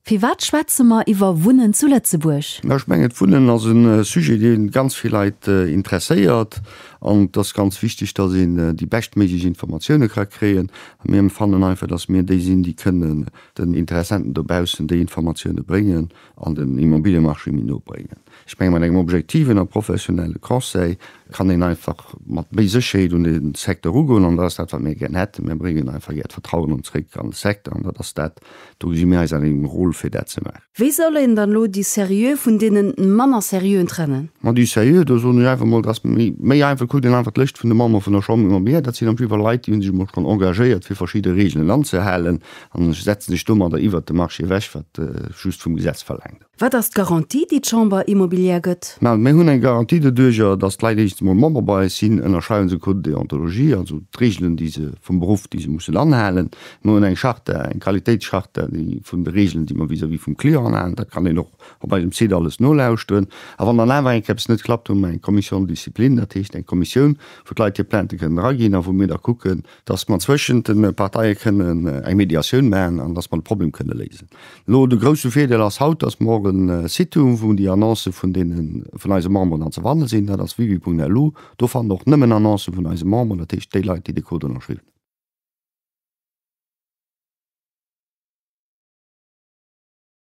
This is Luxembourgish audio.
Firwat schwätze mer iwwer Wunnen zu Lëtzebuerg? Ech mengen, d'Wunnen ass e Sujet, dee ganz vill Leit interesséiert. An et ass ganz wichteg, dass een déi beschtméiglech Informatioune ka kréien. A mir fannen einfach, dass mir déi sinn, déi kënnen den Interessenten dobaussen déi Informatioune bréngen. an den Immobiliemarché méi no bréngen. Ech menge mat engem objektiven a professionelle Conseil kann een einfach mat méi Sécherheet un de Secteur ugoen an dat ass dat wat mir gär hätten. Mir bréngen einfach gär d'Vertrauen an zréck an de Secteur an dat ass dat, do gesi mir eis an engem Rôle fir dat ze maachen. Wéi soll een dann elo déi Serieux vun deenen manner Serieuxen trennen? Ma déi Serieux, do soen ech einfach emol, dat ass méi einfach, kuckt een einfach d'Lëscht vun de Membere vun der Chambre des Commerce, dat sinn am Prinzip awer Leit déi hu sech emol schonn engagéiert fir verschidde Regeln anzehalen An ech setzen sech domadder iwwert de Marché ewech, wat just vum Gesetz verlaangt. Wat ass d'Garantie, déi d'Chambre immobilière gëtt? Mä mir hunn eng Garantie doduerjer, datt d'Leit éischtens emol Member bei eis sinn, ënnerschreiwen se e Code de déontologie, also d'Reegelen, déi se vum Beruff, déi se mussen anhalen. Mir hunn eng Charta, eng Qualitéitscharta, déi vun de Reegelen, déi mer vis-à-vis vum Client anhalen, dat kann een och op eisem Site alles nolauschteren. A wann dann awer eng Kéier eppes net klappt, hu mer eng Commission de discipline, dat heescht eng Kommissioun, wou d'Leit hir Plaintë kënnen eraginn a wou mir da kucken, dass mer zwëschent de Parteie kënnen eng Mediatioun maachen an dass mer de Problem kënne léisen. Elo, de grouse Virdeel ass haut, dass mer e Site hunn, wou déi Annoncë vun deene vun eise Memberen dann ze fanne sinn, dat ass wiwi.lu. Do fannt Der och nëmmen Annoncë vun eise Memberen, dat heescht déi Leit, déi de Code ënnerschriwwen hunn.